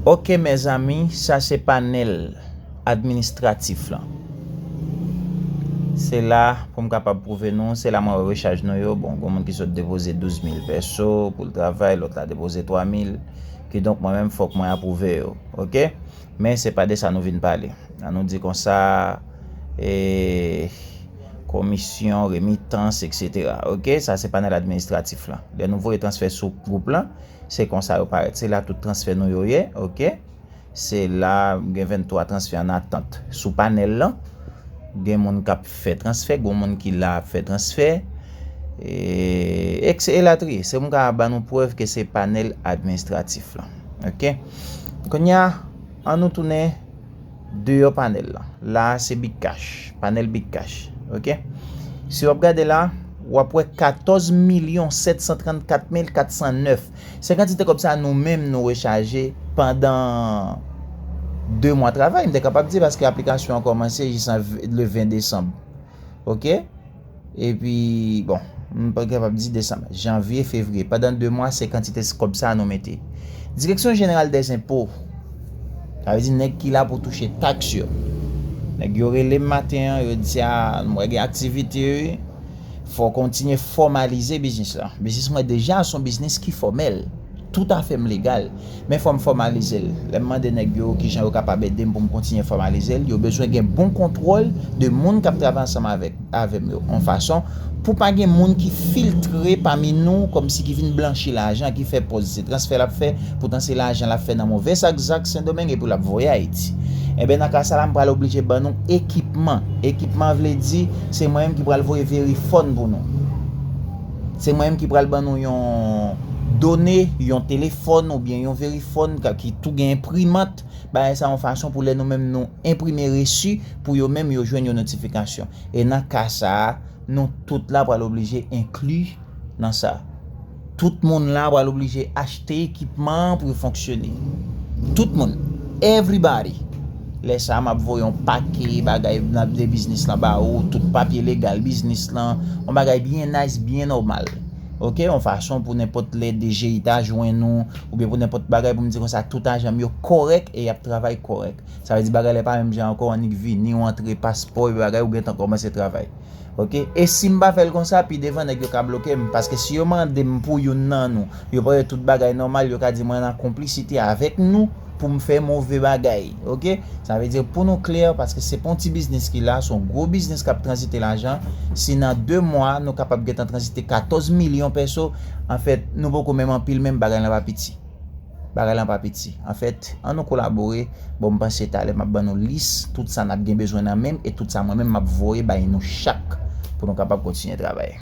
Ok mezanmi sa se panel administratif lan se la pou m kapab pwouve nou se la mwen wè rechaj nou yo bon gon moun ki sot depoze 12000 pèso pou l travay lòt la depoze 3000 kidonk mwen menm fòk mwen apwouve yo ok men se pa de sa nou vin pale an nou di konsa eeeeh komisyon remitans eksetera ok sa se panel administratif lan lè nou voye transfè sou gwoup lan. Se konsa yo parèt. Se la tout transfè nou yo ye. Ok. Se la gen 23 transfè an atant. Sou panèl lan, gen moun kap fè transfè, gon moun ki la ap fè transfè, e elatriye. Se m ka ban nou prèv ke se panèl administratif lan. Ok. Kounya, an nou tounen. Deyò panèl la. La a se Big Cash. Panèl Big Cash. Ok. Si w ap gade la, w ap wè 14 milyon 734 mil 409. Se kantite kòb sa nou menm nou rechaje pandan 2 mwa travay, m te kapab di, paske aplikasyon an kòmanse jis le 20 desanm. ok epi bon m pa kapab di desanm janvye fevriye pandan 2 mwa se kantite kob sa nou mete direksyon jeneral dè zenpo sa vle di nèg ki la pou touche taks yo nèg yo rele m maten an yo di a m wè gen aktivite wi fò w kontinye fòmalize biznis la biznis mwen deja son biznis ki fòmèl Tout afè m legal, men fò m fòmalize l. Lè m mande nèg yo ki jan yo kapab ede m pou m kontinye fòmalize l, yo bezwen gen bon kontwòl de moun k ap travay ansanm avèk avè m yo, yon fason pou pa gen moun ki filtre pami nou kòmsi ki vin blanchi lajan ki fè pòz se transfè l ap fè poutan se lajan l ap fè nan move sak zak Sendomeng epi l ap voye Ayiti. Enben nan ka sa la m pral oblije ban nou ekipman. Ekipman vle di se mwen menm ki pral voye verifòn pou nou. Se mwen menm ki pral ban nou yon done, yon telefòn oubyen yon verifòn ki tou gen enprimant, bagay sa yon fason pou lè nou menm nou enprime resi pou yo menm yo jwenn yon notifikasyon. E nan ka sa, nou tout la pral oblije enkli nan sa. Tout moun la pral oblije achte ekipman pou yo fonksyone. Tout moun. Everybody. Lè sa a, m ap voye yon pake bagay nan de biznis lan ba ou, tout papye legal biznis lan, yon bagay byen nice, byen nòmal. Ok, yon fason pou nenpòt lè DGI ta jwenn ou, oubyen pou nenpòt bagay pou m di konsa tout ajan m yo kòrèk e y ap travay kòrèk. Sa vle di bagay la e pa menm jan ankò annik vini ou antre paspò e bagay ou gentan kòmanse travay. Ok e sim pa fèl konsa pi devan nèg yo ka blokem paske si yo mandem pou youn nan nou yo pran tout bagay nòmal yo ka di mwen nan konplisite avèk nou poum fè move bagay ok sa vle di pou nou klè paske se pa yon ti biznis ki la son gwo biznis kap tranzite lajan si nan 2 mwa nou kapab gentan tranzite 14 milyon pèso anfèt nou poko menm anpil menm bagay lan pa piti. Bagay lan pa piti. Anfèt, an nou kolabore, bon m panse talè m ap ban nou lis tout sa n ap gen bezwen nan menm e tout sa mwen menm m ap voye bay nou chak pou nou kapab kontinye travay.